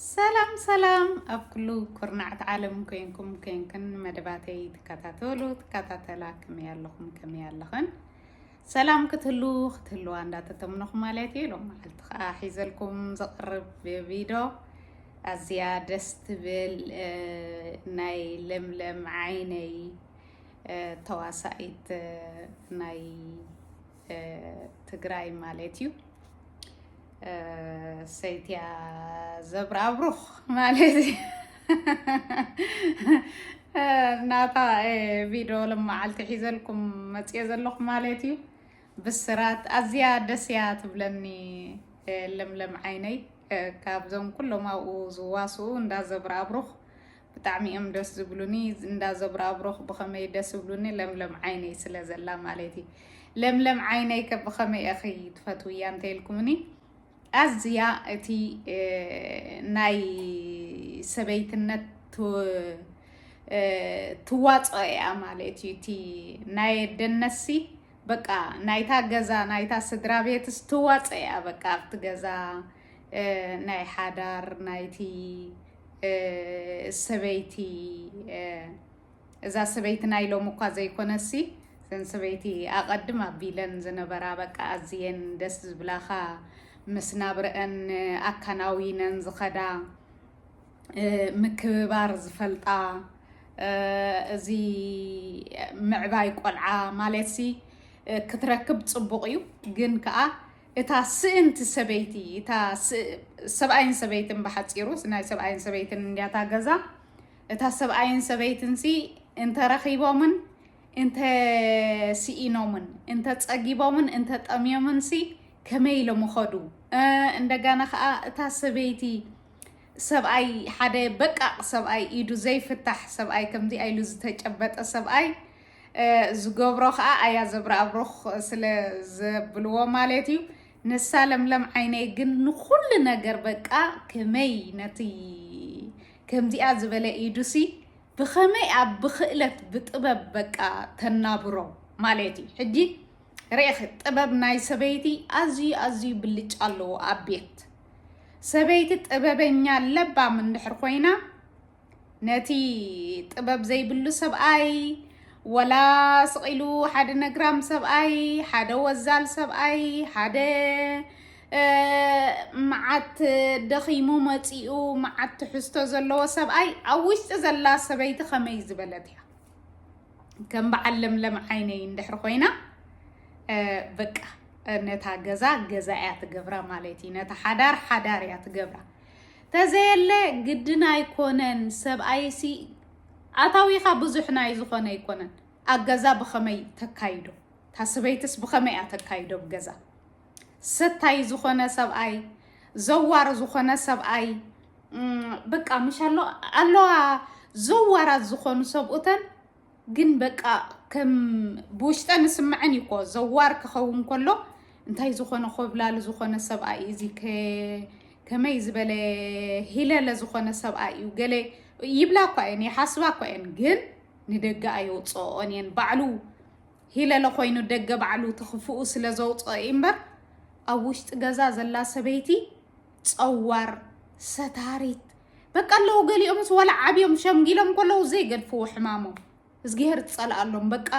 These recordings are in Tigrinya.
ሰላም ሰላም ኣብ ኩሉ ኩርናዕት ዓለም ኮንኩም ኮንክን መደባተይ ትከታተሉ ትከታተላ ከመይ ኣለኹም ከመይ ኣለኽን ሰላም ክትህሉ ክትህልዋ እንዳተተምነኹ ማለት እዩ ሎም መዓልቲ ከዓ ሒዘልኩም ዘቕርብ ቪዶ ኣዝያ ደስ ትብል ናይ ለምለም ዓይነይ ተዋሳኢት ናይ ትግራይ ማለት እዩ ሰይትያ ዘብራብሩኽ ማለት እዩ ናታ ቪድዮ ልመዓልቲ ሒዘልኩም መፅኦ ዘለኹ ማለት እዩ ብስራት ኣዝያ ደስ እያ ትብለኒ ለምለም ዓይነይ ካብዞም ኩሎም ኣብኡ ዝዋስኡ እንዳ ዘብራብሩኽ ብጣዕሚ እዮም ደስ ዝብሉኒ እንዳ ዘብራብሮኽ ብኸመይ ደስ ዝብሉኒ ለምለም ዓይነይ ስለ ዘላ ማለት እዩ ለምለም ዓይነይ ከ ብኸመይ እኺ ትፈትውያ እንተይልኩምኒ ኣዝያ እቲ ናይ ሰበይትነት ትዋፅኦ እያ ማለት እዩ እቲ ናይ ኣደነሲ በቃ ናይታ ገዛ ናይታ ስድራ ቤትስ ትዋፅኦ እያ በቃ ኣብቲ ገዛ ናይ ሓዳር ናይቲ ሰበይቲ እዛ ሰበይቲ ናይ ሎም እኳ ዘይኮነሲ ዘን ሰበይቲ ኣቐድም ኣቢለን ዝነበራ በቃ ኣዝየን ደስ ዝብላኻ ምስ ናብረአን ኣከናዊነን ዝኸዳ ምክብባር ዝፈልጣ እዚ ምዕባይ ቆልዓ ማለትሲ ክትረክብ ፅቡቕ እዩ ግን ከዓ እታ ስእንቲ ሰበይቲ እታ ሰብኣይን ሰበይትን ብሓፂሩ ናይ ሰብኣይን ሰበይትን እንዲያታ ገዛ እታ ሰብኣይን ሰበይትን ሲ እንተረኺቦምን እንተ ስኢኖምን እንተ ፀጊቦምን እንተ ጠምዮምን ሲ ከመይ ኢሎም ይኸዱ እንደገና ከዓ እታ ሰበይቲ ሰብኣይ ሓደ በቃቅ ሰብኣይ ኢዱ ዘይፍታሕ ሰብኣይ ከምዚ ኣይሉ ዝተጨበጠ ሰብኣይ ዝገብሮ ከኣ ኣያ ዘብረኣብሩኽ ስለ ዘብልዎ ማለት እዩ። ንሳ ለምለም ዓይነይ ግን ንኹሉ ነገር በቃ ከመይ ነቲ ከምዚኣ ዝበለ ኢዱሲ ብኸመይ ኣብ ብክእለት ብጥበብ በቃ ተናብሮ ማለት እዩ። ሕጂ ርኢኺ ጥበብ ናይ ሰበይቲ ኣዝዩ ኣዝዩ ብልጫ ኣለዎ ኣብ ቤት ሰበይቲ ጥበበኛ ለባም እንድሕር ኮይና ነቲ ጥበብ ዘይብሉ ሰብኣይ ወላ ስቒሉ ሓደ ነግራም ሰብኣይ ሓደ ወዛል ሰብኣይ ሓደ መዓት ደኺሙ መፂኡ መዓት ትሕዝቶ ዘለዎ ሰብኣይ ኣብ ውሽጢ ዘላ ሰበይቲ ከመይ ዝበለት እያ ከም በዓል ለምለም ዓይነይ እንድሕር ኮይና በቃ ነታ ገዛ ገዛ እያ ትገብራ ማለት እዩ ነታ ሓዳር ሓዳር እያ ትገብራ ተዘየለ ግድን ኣይኮነን ሰብኣይሲ ኣታዊኻ ብዙሕ ናይ ዝኾነ ኣይኮነን ኣገዛ ብኸመይ ተካይዶ ታስበይትስ ብኸመይ እያ ተካይዶ ብገዛ ሰታይ ዝኾነ ሰብኣይ ዘዋር ዝኾነ ሰብኣይ በቃ ምሻሎ ኣለዋ ዘዋራት ዝኾኑ ሰብኡተን ግን በቃ ከም ብውሽጠን ዝስምዐን እዩ እኮ ዘዋር ክኸውን ከሎ እንታይ ዝኾነ ኮብላሊ ዝኾነ ሰብኣይ እዩ እዚ ከመይ ዝበለ ሂለለ ዝኾነ ሰብኣይ እዩ ገለ ይብላ እኳ እየን ይሓስባ እኳ እየን ግን ንደገ ኣየውፅኦን እየን ባዕሉ ሂለለ ኮይኑ ደገ ባዕሉ ትኽፍኡ ስለ ዘውፅኦ እዩ እምበር ኣብ ውሽጢ ገዛ ዘላ ሰበይቲ ፀዋር ሰታሪት በቃ ኣለዉ ገሊኦምስ ዋላ ዓብዮም ሸምጊሎም ከለዉ ዘይገድፍዎ ሕማሞም እዝግሄር ትፀልኣሎም በቃ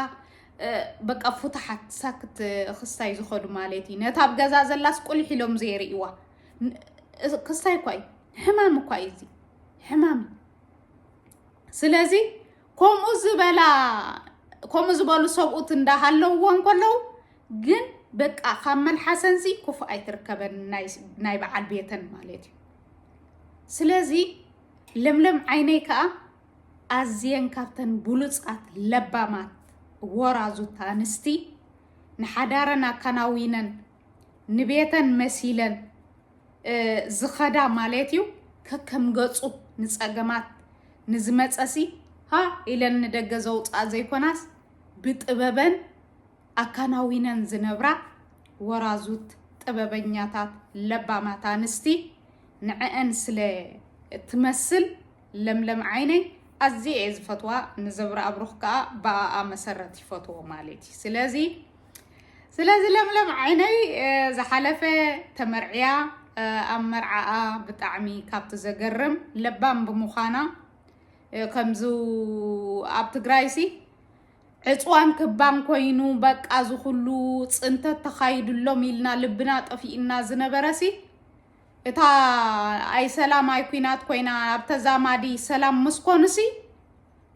በቃ ፍታሓት ሳክት ክስታይ ዝኸዱ ማለት እዩ ነታ ኣብ ገዛ ዘላስ ቁልሕ ኢሎም ዘይርእዋ ክስታይ እኳ እዩ ሕማም እኳ እዩ እዚ ሕማም ስለዚ ከምኡ ዝበላ ከምኡ ዝበሉ ሰብኡት እንዳሃለውዎ እንከለው ግን በቃ ካብ መልሓሰንሲ ክፉእ ኣይትርከበን ናይ በዓል ቤተን ማለት እዩ ስለዚ ለምለም ዓይነይ ከዓ ኣዝየን ካብተን ብሉፃት ለባማት ወራዙት ኣንስቲ ንሓዳረን ኣከናዊነን ንቤተን መሲለን ዝኸዳ ማለት እዩ ከከም ገፁ ንፀገማት ንዝመፀሲ ሃ ኢለን ንደገ ዘውፅኣ ዘይኮናስ ብጥበበን ኣካናዊነን ዝነብራ ወራዙት ጥበበኛታት ለባማት ኣንስቲ ንዐአን ስለ እትመስል ለምለም ዓይነይ ኣዝየ እየ ዝፈትዋ ንዘብረ ኣብሩኽ ከዓ ብኣኣ መሰረት ይፈትዎ ማለት እዩ ስለዚ ስለዚ ለምለም ዓይነይ ዝሓለፈ ተመርዕያ ኣብ መርዓኣ ብጣዕሚ ካብቲ ዘገርም ለባም ብምዃና ከምዚ ኣብ ትግራይሲ ዕፅዋን ክባን ኮይኑ በቃ ዝኩሉ ፅንተት ተኻይድሎም ኢልና ልብና ጠፊእና ዝነበረሲ እታ ኣይ ሰላም ኣይ ኩናት ኮይና ኣብ ተዛማዲ ሰላም ምስኮንሲ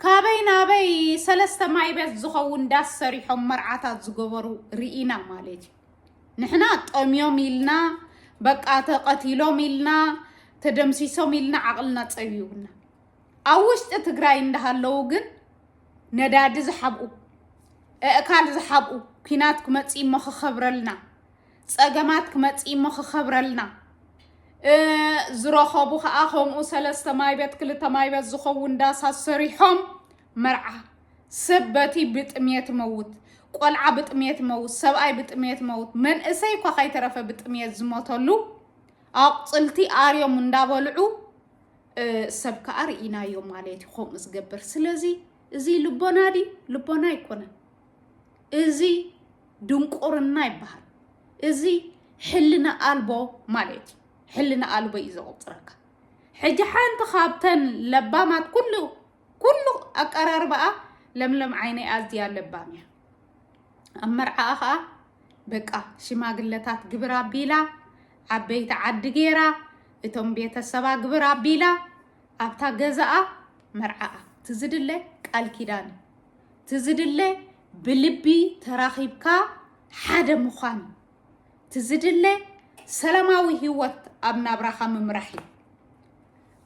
ካበይ ናበይ ሰለስተ ማይቤት ዝኸውን ዳስ ሰሪሖም መርዓታት ዝገበሩ ርኢና ማለት እዩ። ንሕና ጠምዮም ኢልና በቃ ተቐቲሎም ኢልና ተደምሲሶም ኢልና ዓቕልና ፀቢቡና ኣብ ውሽጢ ትግራይ እንዳሃለዉ ግን ነዳዲ ዝሓብኡ እእካል ዝሓብኡ ኩናት ክመፅእ እሞ ክኸብረልና ፀገማት ክመፅእ እሞ ክከብረልና ዝረኸቡ ከዓ ከምኡ ሰለስተ ማይበት ክልተ ማይበት ዝኸውን ዳሳት ሰሪሖም መርዓ ሰብ በቲ ብጥሜት መውት ቆልዓ ብጥሜት መውት ሰብኣይ ብጥሜት መውት መንእሰይ እኳ ከይተረፈ ብጥሜት ዝሞተሉ ኣቁፅልቲ ኣርዮም እንዳበልዑ ሰብ ከዓ ርኢናዮ ማለት እዩ ከምኡ ዝገብር ስለዚ እዚ ልቦና ዲ ልቦና ኣይኮነን እዚ ድንቁርና ይበሃል። እዚ ሕልና ኣልቦ ማለት እዩ። ሕልና ኣልቦ እዩ ዘቑፅረካ። ሕጂ ሓንቲ ካብተን ለባማት ኩሉ ኩሉ ኣቀራርባኣ ለምለም ዓይነይ ኣዝያ ለባም እያ። ኣብ መርዓኣ ከዓ በቃ ሽማግለታት ግብር ኣቢላ ዓበይቲ ዓዲ ገይራ እቶም ቤተሰባ ግብር ኣቢላ ኣብታ ገዛኣ መርዓኣ ትዝድለ ቃል ኪዳን እዩ። እቲ ዝድለ ብልቢ ተራኺብካ ሓደ ምዃን እዩ። እቲ ዝድለ ሰላማዊ ህይወት ኣብ ናብራኻ ምምራሕ እዩ።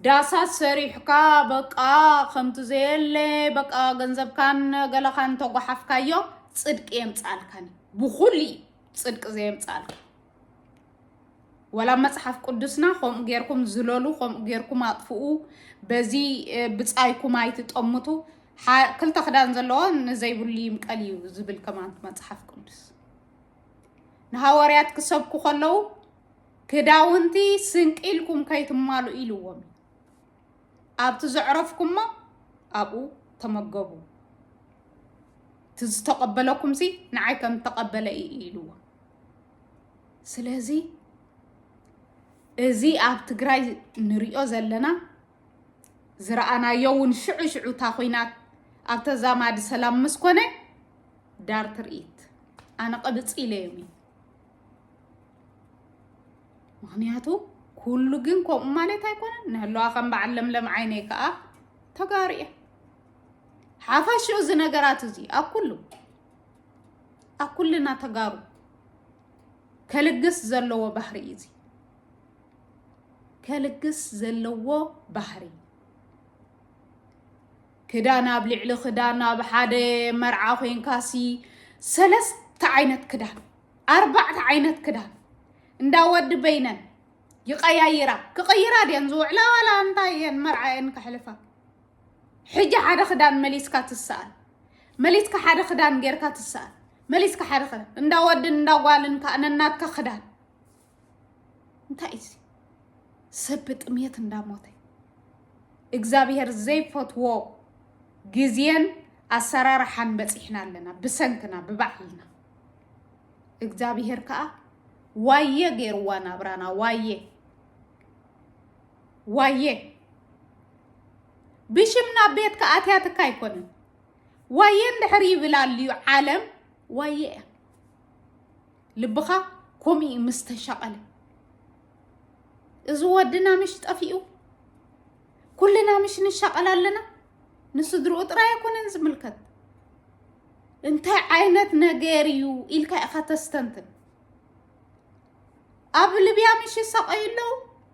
ዳሳት ሰሪሕካ በቃ ከምቲ ዘየለ በቃ ገንዘብካን ገለኻን ተጓሓፍካዮ ፅድቂ የምፃልካን እዩ። ብኹሉ እዩ ፅድቂ ዘየምፃልካ። ወላ መጽሓፍ ቅዱስና ከምኡ ጌርኩም ዝለሉ ከምኡ ጌርኩም ኣጥፍኡ በዚ ብጻይኩም ኣይትጠምቱ ክልተ ክዳን ዘለዎ ንዘይብሉ ይምቀል እዩ ዝብል ከማን መጽሓፍ ቅዱስ ንሃዋርያት ክሰብኩ ከለዉ ክዳውንቲ ስንቂ ኢልኩም ከይትማሉ ኢልዎም ኣብቲ ዘዕረፍኩሞ ኣብኡ ተመገቡ እቲ ዝተቐበለኩምሲ ንዓይ ከም ተቐበለ እዩ ኢልዎም ስለዚ እዚ ኣብ ትግራይ ንሪኦ ዘለና ዝረኣናዮ እውን ሽዑ ሽዑ እታ ኩናት ኣብ ተዛማዲ ሰላም ምስ ኮነ ዳር ትርኢት ኣነ ቅብፅ ኢለ እዮም እዩ ምክንያቱ ኩሉ ግን ከምኡ ማለት ኣይኮነን ንህለዋ ከም በዓል ለምለም ዓይነይ ከዓ ተጋሩ እየ ሓፈሽኡ እዚ ነገራት እዚ ኣብ ኩሉ ኣብ ኩልና ተጋሩ ከልግስ ዘለዎ ባህሪ እዩ እዚ ከልግስ ዘለዎ ባህሪ ክዳን ኣብ ልዕሊ ክዳን ኣብ ሓደ መርዓ ኮንካሲ ሰለስተ ዓይነት ክዳን ኣርባዕተ ዓይነት ክዳን እንዳ ወዲ በይነን ይቀያይራ ክቅይራ ድየን ዝውዕላ ዋላ እንታይ እየን መርዓ እየን ከሕልፋ ሕጂ ሓደ ክዳን መሊስካ ትስኣል መሊስካ ሓደ ክዳን ጌርካ ትስኣል መሊስካ ሓደ ክዳን እንዳ ወድን እንዳ ጓልን ከዓ ነናትካ ክዳን እንታይ እዩ ሰብ ብጥሜት እንዳሞተ እግዚኣብሄር ዘይፈትዎ ግዜን ኣሰራርሓን በፂሕና ኣለና ብሰንክና ብባዕልና እግዚኣብሄር ከዓ ዋየ ገይርዋ ናብራና ዋየ ዋየ ብሽም ናብ ቤትካ ኣትያትካ ኣይኮነን ዋየ እንድሕር ይብል ኣልዩ ዓለም ዋየ እያ ልብኻ ከምኡ እዩ ምስ ተሸቐለ እዚ ወድና ምሽ ጠፊኡ ኩልና ምሽ ንሸቐል ኣለና ንስድርኡ ጥራይ ኣይኮነን ዝምልከት እንታይ ዓይነት ነገር እዩ ኢልካ ኢኻ ተስተንትን ኣብ ልብያ ምሽ ይሰቐዩ ኣለዉ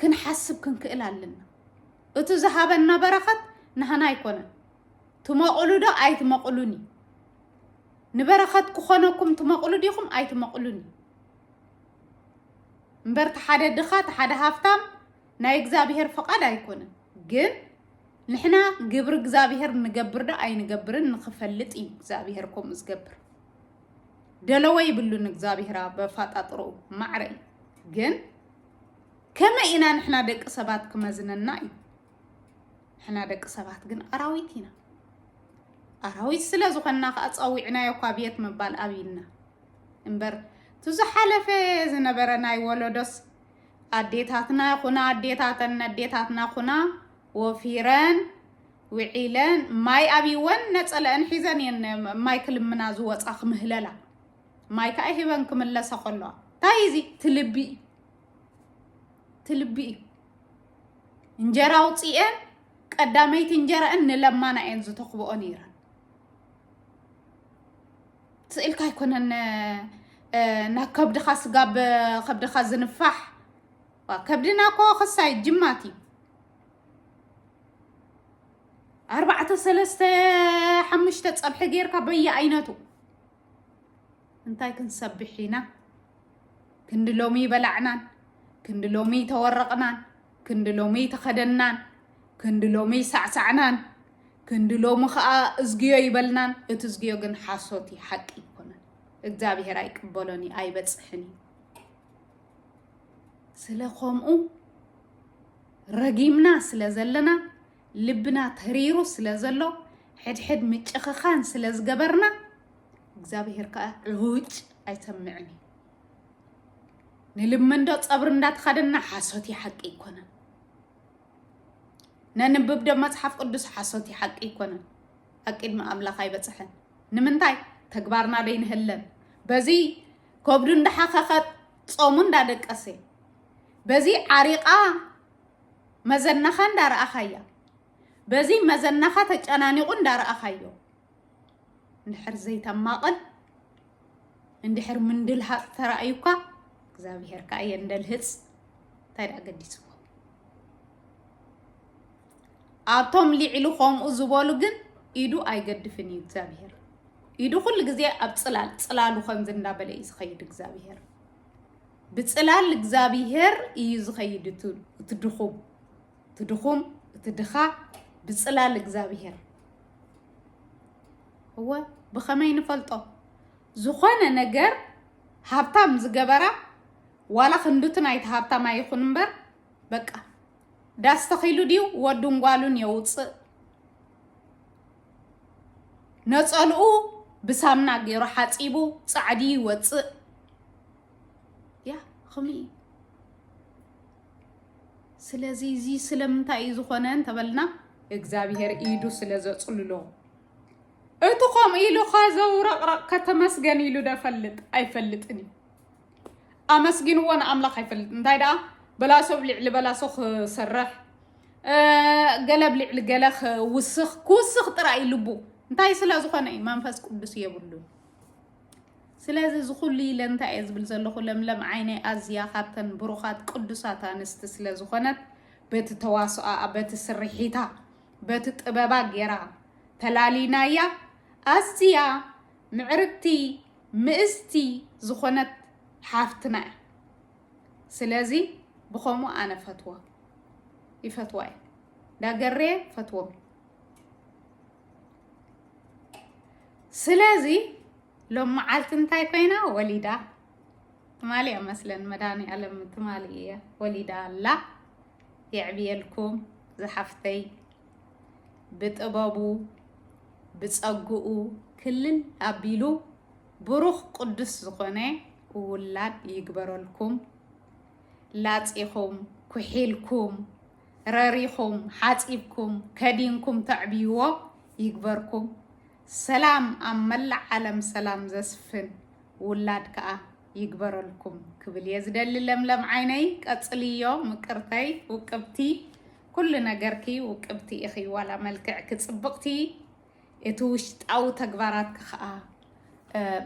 ክንሓስብ ክንክእል ኣለና። እቱ ዝሃበና በረኸት ናህና ኣይኮነን። ትመቕሉ ዶ ኣይትመቕሉን እዩ። ንበረኸት ክኾነኩም ትመቕሉ ዲኹም ኣይትመቕሉን እዩ። እምበር ተሓደ ድኻ ተሓደ ሃፍታም ናይ እግዚኣብሔር ፍቓድ ኣይኮነን። ግን ንሕና ግብሪ እግዚኣብሔር ንገብር ዶ ኣይንገብርን ንክፈልጥ እዩ እግዚኣብሔር ከምኡ ዝገብር። ደለወ ይብሉን እግዚኣብሔር በፋጣጥሮ ማዕረ እዩ ግን ከመይ ኢና ንሕና ደቂ ሰባት ክመዝነና እዩ ንሕና ደቂ ሰባት ግን ኣራዊት ኢና ኣራዊት ስለ ዝኾንና ከዓ ፀዊዕናዮ እኳ ቤት ምባል ኣብይና እምበር እቲ ዝሓለፈ ዝነበረ ናይ ወለዶስ ኣዴታትና ይኹና ኣዴታተን ነዴታትና ኩና ወፊረን ውዒለን ማይ ኣብይወን ነፀለአን ሒዘን እየን ማይ ክልምና ዝወፃ ክምህለላ ማይ ከዓ ሂበን ክምለሰ ከለዋ እንታይ እዚ ትልቢ እዩ ትልቢ እዩ እንጀራ ኣውፅኤን ቀዳመይቲ እንጀራእን ንለማና እየን ዝተኽብኦ ነይረን ስእልካ ኣይኮነን ናብ ከብድኻ ስጋ ብከብድኻ ዝንፋሕ ከብድና እኮ ክሳይ ጅማት እዩ ኣርባዕተ ሰለስተ ሓሙሽተ ፀብሒ ጌርካ በየኣይነቱ እንታይ ክንሰብሕ ኢና ክንዲ ሎሚ በላዕናን ክንዲ ሎሚ ተወረቕናን ክንዲ ሎሚ ተኸደናን ክንዲ ሎሚ ሳዕሳዕናን ክንዲ ሎሚ ከዓ እዝግዮ ይበልናን እቲ እዝግዮ ግን ሓሶት እዩ ሓቂ ይኮነን እግዚኣብሄር ኣይቅበሎን እዩ ኣይበፅሕን እዩ ስለ ከምኡ ረጊምና ስለ ዘለና ልብና ተሪሩ ስለ ዘሎ ሕድሕድ ምጭኽኻን ስለ ዝገበርና እግዚኣብሄር ከዓ ዕውጭ ኣይሰምዕን እዩ ንልመንዶ ፀብሪ እንዳተኸደና ሓሶት እዩ ሓቂ ኣይኮነን ነንብብ ዶ መፅሓፍ ቅዱስ ሓሶት እዩ ሓቂ ኣይኮነን ኣብ ቅድሚ ኣምላኽ ኣይበፅሐን ንምንታይ ተግባርና ዶ ይንህለን በዚ ከብዱ እንዳሓኸኸ ፆሙ እንዳደቀሰ በዚ ዓሪቓ መዘናኻ እንዳረኣኻያ በዚ መዘናኻ ተጨናኒቑ እንዳረኣኻዮ እንድሕር ዘይተማቕል እንድሕር ምንድልሃፅ ተራእዩካ እግዚኣብሔር ከዓ የንደልህፅ እንታይ ደኣ ገዲስዎ ኣብቶም ሊዕሉ ከምኡ ዝበሉ ግን ኢዱ ኣይገድፍን እዩ እግዚኣብሄር ኢዱ ኩሉ ግዜ ኣብ ፅላል ፅላሉ ከምዚ እንዳበለ እዩ ዝኸይድ እግዚኣብሄር ብጽላል እግዛቢሄር እዩ ዝኸይድ እቱ እቲ ድኹም እቲ ድኹም እቲ ድኻ ብጽላል እግዛቢሄር እወ ብኸመይ ንፈልጦ ዝኾነ ነገር ሃብታም ዝገበራ ዋላ ክንዱቲ ናይቲ ሃብታም ኣይኹን እምበር በቃ ዳስ ተኺሉ ድዩ ወዱን ጓሉን የውፅእ ነፀልኡ ብሳምና ገይሩ ሓፂቡ ፃዕዲ ይወፅእ ያ ኸምኡ እዩ ስለዚ እዚ ስለምንታይ እዩ ዝኾነ እንተበልና እግዚኣብሄር ኢዱ ስለ ዘፅልሎ እቲ ከምኡ ኢሉ ከዘውረቕረቕ ከተመስገን ኢሉ ደፈልጥ ኣይፈልጥን እዩ ኣመስጊንዎ ንኣምላኽ ኣይፈልጥ እንታይ ደኣ በላሶብ ልዕሊ በላሶ ክሰርሕ ገለብ ልዕሊ ገለ ክውስኽ ክውስኽ ጥራይ ልቡ እንታይ ስለ ዝኾነ እዩ መንፈስ ቅዱስ የብሉ ስለዚ እዚ ኩሉ ኢለ እንታይ እየ ዝብል ዘለኹ ለምለም ዓይነይ ኣዝያ ካብተን ብሩኻት ቅዱሳት ኣንስቲ ስለ ዝኾነት በቲ ተዋስኦኣ በቲ ስርሒታ በቲ ጥበባ ጌራ ተላሊናያ ኣዝያ ምዕርግቲ ምእዝቲ ዝኾነት ሓፍትና እያ ስለዚ ብኸምኡ ኣነ ፈትዎ ይፈትዋ እየ ዳገሬ ፈትዎም ስለዚ ሎም መዓልቲ እንታይ ኮይና ወሊዳ ትማሊ እያ መስለን መድሃኒኣለም ትማሊ እያ ወሊዳ ኣላ የዕብየልኩም ዝሓፍተይ ብጥበቡ ብፀግኡ ክልል ኣቢሉ ብሩኽ ቅዱስ ዝኾነ ውላድ ይግበረልኩም ላፂኹም ኩሒልኩም ረሪኹም ሓፂብኩም ከዲንኩም ተዕብይዎ ይግበርኩም ሰላም ኣብ መላእ ዓለም ሰላም ዘስፍን ውላድ ከዓ ይግበረልኩም ክብል እየ ዝደሊ ለምለም ዓይነይ ቀፅልዮ ምቅርተይ ውቅብቲ ኩሉ ነገርኪ ውቅብቲ ኢኺ ዋላ መልክዕኪ ፅብቕቲ እቲ ውሽጣዊ ተግባራትኪ ከኣ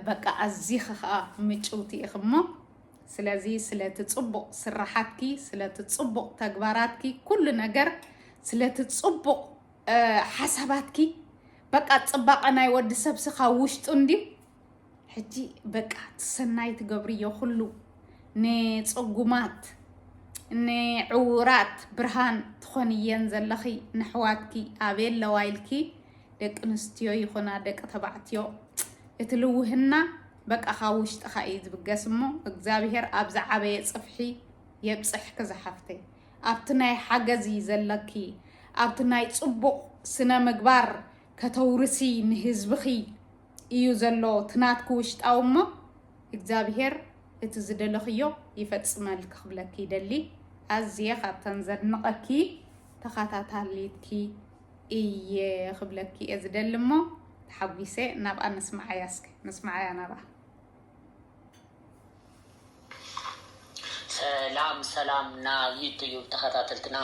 በቃ ኣዚኺ ከኣ ምጭውቲ ኢኺ እሞ ስለዚ ስለቲ ጽቡቕ ስራሓትኪ ስለቲ ጽቡቕ ተግባራትኪ ኩሉ ነገር ስለቲ ጽቡቕ ሓሳባትኪ በቃ ጽባቐ ናይ ወዲ ሰብሲ ካብ ውሽጡ እንድዩ ሕጂ በቃ ትሰናይ ትገብርዮ ኩሉ ንፅጉማት ንዕውራት ብርሃን ትኾንየን ዘለኺ ንሕዋትኪ ኣበየ ኣለዋ ኢልኪ ደቂ ኣንስትዮ ይኹና ደቂ ተባዕትዮ እቲ ልውህና በቃ ካብ ውሽጥኻ እዩ ዝብገስ እሞ እግዚኣብሄር ኣብ ዝዓበየ ፅፍሒ የብፅሕኪ ዝሓፍተይ ኣብቲ ናይ ሓገዝ እዩ ዘለኪ ኣብቲ ናይ ፅቡቕ ስነ ምግባር ከተውርሲ ንህዝብኺ እዩ ዘሎ ትናትኪ ውሽጣዊ እሞ እግዚኣብሄር እቲ ዝደለኽዮ ይፈፅመልኪ ክብለኪ ይደሊ ኣዝየ ካብተን ዘድንቐኪ ተኻታታሊትኪ እየ ክብለኪ እየ ዝደሊ እሞ ተሓጒሰ ናብኣ ነስምዓያ እስኪ ነስምዓያ ናብኣ ሰላም ሰላም ና ዩቱዩብ ተከታተልትና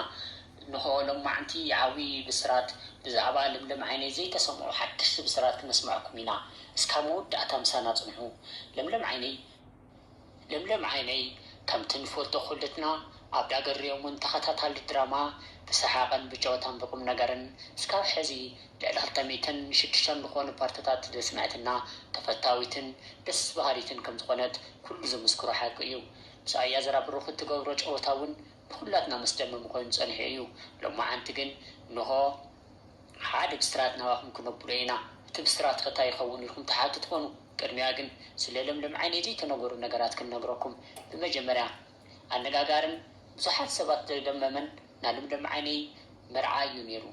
እንኾ ሎማዕንቲ ዓብዪ ብስራት ብዛዕባ ለምለም ዓይነይ ዘይተሰምዑ ሓደሽቲ ብስራት ክነስመዐኩም ኢና እስካብ መወዳእታ ምሳና ፅንሑ ለምለም ዓይነይ ለምለም ዓይነይ ከምቲ ንፈልጦ ኩልትና ኣብ ዳገር'ዮም ውን ተኸታታሊ ድራማ ብሰሓቕን ብጨወታን ብቁምነገርን እስካብ ሕዚ ልዕሊ ክልተ ሚእትን ሽዱሽተን ዝኾኑ ፓርትታት ዘስመዐትና ተፈታዊትን ደስ በሃሊትን ከምዝኾነት ኩሉ ዝምስክሮ ሓቂ እዩ ምስ ኣያ ዘራ ብሩኽ እትገብሮ ጨወታ ውን ንኹላትና መስደመሚ ኮይኑ ጸኒሑ እዩ ሎማዓንቲ ግን እንሆ ሓደ ብስራት ናባኹም ክነብሎ ኢና እቲ ብስራት ከ ታይ ይኸውን ኢልኩም ትሓቱ ትኾኑ ቅድሚያ ግን ስለ ለምለም ዓይነይ ዘይተነገሩ ነገራት ክንነግረኩም ብመጀመርያ ኣነጋጋርን ብዙሓት ሰባት ዘደመመን ናለምለም ዓይነይ መርዓ እዩ ነይሩ።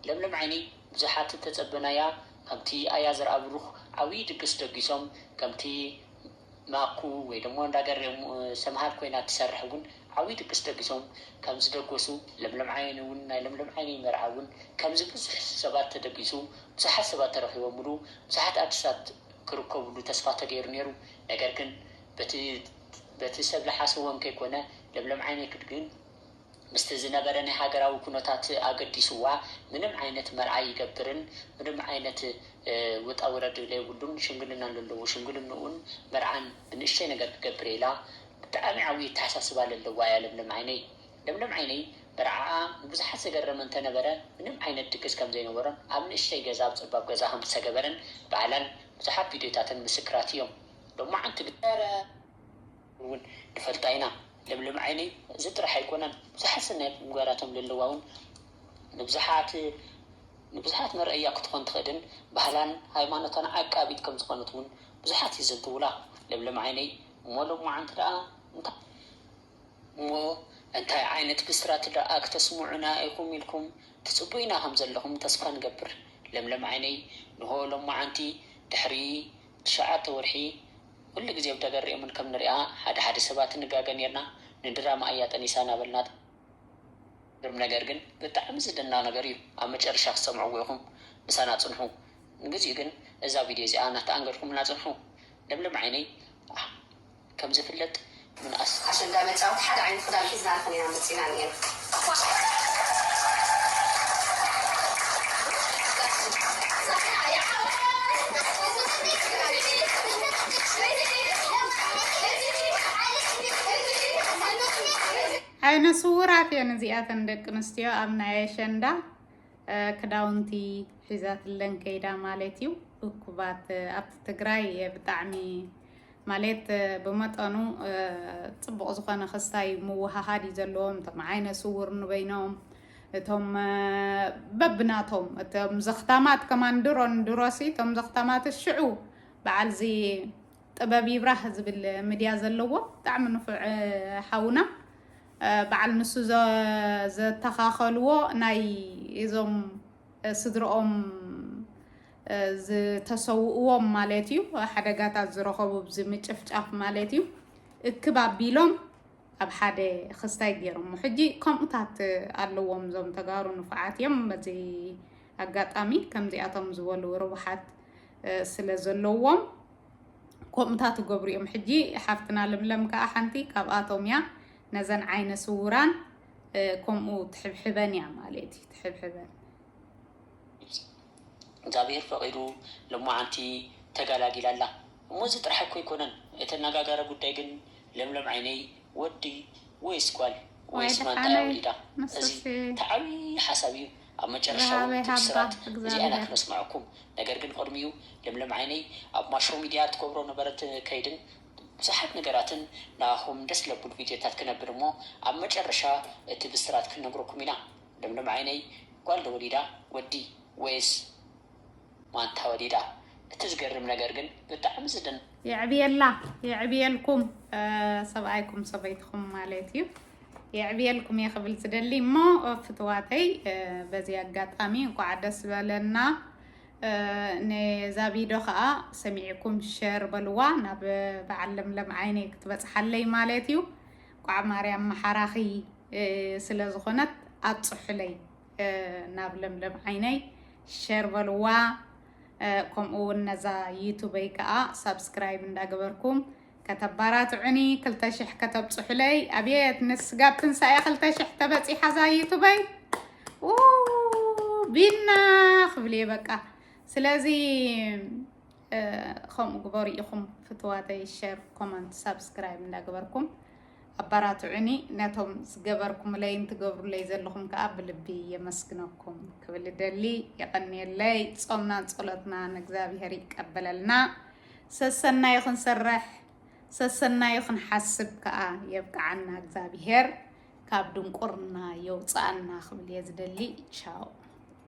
ለምለም ዓይነይ ብዙሓት እተጸበናያ ከምቲ ኣያ ዘርኣብሩኽ ዓብዪ ድግስ ደጊሶም ከምቲ ማኩ ወይ ደሞ እንዳ ገሬ ሰምሃር ኮይና እትሰርሕ እውን ዓብዪ ድግስ ደጊሶም ከምዝደገሱ ለምለም ዓይነይ እውን ናይ ለምለም ዓይነይ መርዓ እውን ከምዚ ብዙሕ ሰባት ተደጊሱ ብዙሓት ሰባት ተረኺቦምሉ ብዙሓት ኣርቲስታት ክርከብሉ ተስፋ ተገይሩ ነይሩ ነገር ግን በቲ በቲ ሰብ ልሓስዎን ከይኮነ ለምለም ዓይነይ ክድግን ምስቲ ዝነበረ ናይ ሃገራዊ ኩነታት ኣገዲስዋ ምንም ዓይነት መርዓ ይገብርን ምንም ዓይነት ውጣ ውረድ ለይብሉን ሽምግልና ለለዎ ሽምግልንኡን መርዓን ብንእሽተይ ነገር ክገብር ኢላ ብጣዕሚ ዓብይ ኣተሓሳስባ ለለዋ እያ ለምለም ዓይነይ ለምለም ዓይነይ መርዓኣ ንብዙሓት ዘገረመ እንተነበረ ምንም ዓይነት ድግስ ከምዘይነበሮን ኣብ ንእሽተይ ገዛ ኣብ ፀባብ ገዛ ከምዝተገበረን ባዕላን ብዙሓት ቪድዮታትን ምስክራት እዮም። ሎማዓንቲ ግን እረ ውን ንፈልጣ ኢና ለምለም ዓይነይ እዚ ጥራሕ ኣይኮነን ብዙሓት ሰናያት ምግባራቶም ለለዋ ውን ንብዙሓት ንብዙሓት መርኣያ ክትኾን ትኽእልን ባህላን ሃይማኖታን ዓቃቢት ከም ዝኾነት ውን ብዙሓት ይዝንትውላ ለምለም ዓይነይ እሞ ሎማዓንቲ ደኣ እንታይ እሞ እንታይ ዓይነት ብስራት ደኣ ክተስሙዑና ኢኹም ኢልኩም ትጽቡይና ከም ዘለኹም ተስፋ ንገብር ለምለም ዓይነይ ንሆ ሎማዓንቲ ድሕሪ ትሽዓተ ወርሒ ኩሉ ግዜ ብደገ ሪኦምን ከም ንሪኣ ሓደ ሓደ ሰባት ንጋገ ኔርና ንድራማ እያ ጠኒሳ ናበልና ዝገርም ነገር ግን ብጣዕሚ ዝድነቅ ነገር እዩ ኣብ መጨረሻ ክትሰምዕዎ ኢኩም ምሳና ጽንሑ ንግዚኡ ግን እዛ ቪድዮ እዚኣ ናተኣንገድኩምልና ጽንሑ ለምለም ዓይነይ። ከም ዝፍለጥ ምንኣስ። ኣሸንዳ መጫወቲ ሓደ ዓይነት ክዳን ሒዝና ንኽን ኢና መፂና እኒኤና እኳ ዓይነ ስውራት እየን እዚኣተን ደቂ ኣንስትዮ ኣብ ናይ ኣሸንዳ ክዳውንቲ ሒዛትለን ከይዳ ማለት እዩ። እኩባት ኣብቲ ትግራይ ብጣዕሚ ማሌት ብመጠኑ ፅቡቕ ዝኾነ ክስታይ ምውሃሃድ እዩ ዘለዎም እቶም ዓይነ ስውር ንበይኖም እቶም በብናቶም እቶም ዘኽታማት ከማን ድሮን ድሮሲ እቶም ዘኽታማት ሽዑ በዓል እዚ ጥበብ ይብራህ ዝብል ሚድያ ዘለዎ ብጣዕሚ ንፉዕ ሓውና በዓል ንሱ ዘተኻኸልዎ ናይ እዞም ስድርኦም ዝተሰውእዎም ማለት እዩ ሓደጋታት ዝረኸቡ ብዚ ምጭፍጫፍ ማለት እዩ እክብ ኣቢሎም ኣብ ሓደ ክስታይ ገይሮሞ ሕጂ ከምኡታት ኣለዎም እዞም ተጋሩ ንፉዓት እዮም በዚ ኣጋጣሚ ከምዚኣቶም ዝበሉ ርቡሓት ስለ ዘለዎም ከምኡታት ይገብሩ እዮም ሕጂ ሓፍትና ለምለም ከዓ ሓንቲ ካብኣቶም እያ ነዘን ዓይነ ስውራን ከምኡ ትሕብሕበን እያ ማለት እዩ ትሕብሕበን እግዚኣብሔር ፈቂዱ ልማዓንቲ ተጋላጊላ ኣላ እሞ እዚ ጥራሕ እኮ ኣይኮነን እቲ ኣናጋጋሪ ጉዳይ ግን ለምለም ዓይነይ ወዲ ወይስ ጓል ወይስ ማንታ እያ ወሊዳ እዚ እቲ ዓብይ ሓሳብ እዩ ኣብ መጨረሻ እውን እቲ ብስራት እዚኣ ኢና ክነስመዐኩም ነገር ግን ቅድሚኡ ለምለም ዓይነይ ኣብ ማሾ ሚድያ ትገብሮ ነበረት ከይድን ብዙሓት ነገራትን ንኣኹም ደስ ለብሉ ቪድዮታት ክነብል እሞ ኣብ መጨረሻ እቲ ብስራት ክንነግረኩም ኢና። ለምለም ዓይነይ ጓል ዶ ወሊዳ ወዲ ወይስ ማንታ ወሊዳ እቲ ዝገርም ነገር ግን ብጣዕሚ ዝድነቅ የዕብየላ የዕብየልኩም ሰብኣይኩም ሰበይትኹም ማለት እዩ የዕብየልኩም እየ ክብል ዝደሊ እሞ ፍትዋተይ በዚ ኣጋጣሚ እንኳዕ ደስ በለና ነዛ ቪድዮ ከዓ ሰሚዕኩም ሸር በልዋ ናብ በዓል ለምለም ዓይነይ ክትበፅሓለይ ማለት እዩ ቋዕ ማርያም ማሓራኺ ስለ ዝኾነት ኣብጽሑለይ ናብ ለምለም ዓይነይ ሸር በልዋ ከምኡ እውን ነዛ ዩቱበይ ከዓ ሳብስክራይብ እንዳገበርኩም ከተባራትዑኒ ክልተ ሽሕ ከተብጽሑለይ ኣብየት ንስጋብ ትንሳኤ ክልተ ሽሕ ተበፂሓ እዛ ዩቱበይ ቢና ክብል እየ በቃ ስለዚ ከምኡ ግበሩ ኢኹም ፍትዋተይ ሸር ኮመንት ሳብስክራይብ እንዳገበርኩም ኣባራትዑኒ ነቶም ዝገበርኩምለይን ትገብሩለይ ዘለኹም ከዓ ብልቢ የመስግነኩም ክብል ደሊ የቐንየለይ ጾምናን ጸሎትናን እግዚኣብሔር ይቀበለልና ሰሰናዩ ክንሰርሕ ሰሰናዩ ክንሓስብ ከዓ የብቅዓና እግዚኣብሔር ካብ ድንቁርና የውፅኣና ክብል እየ ዝደሊ ቻው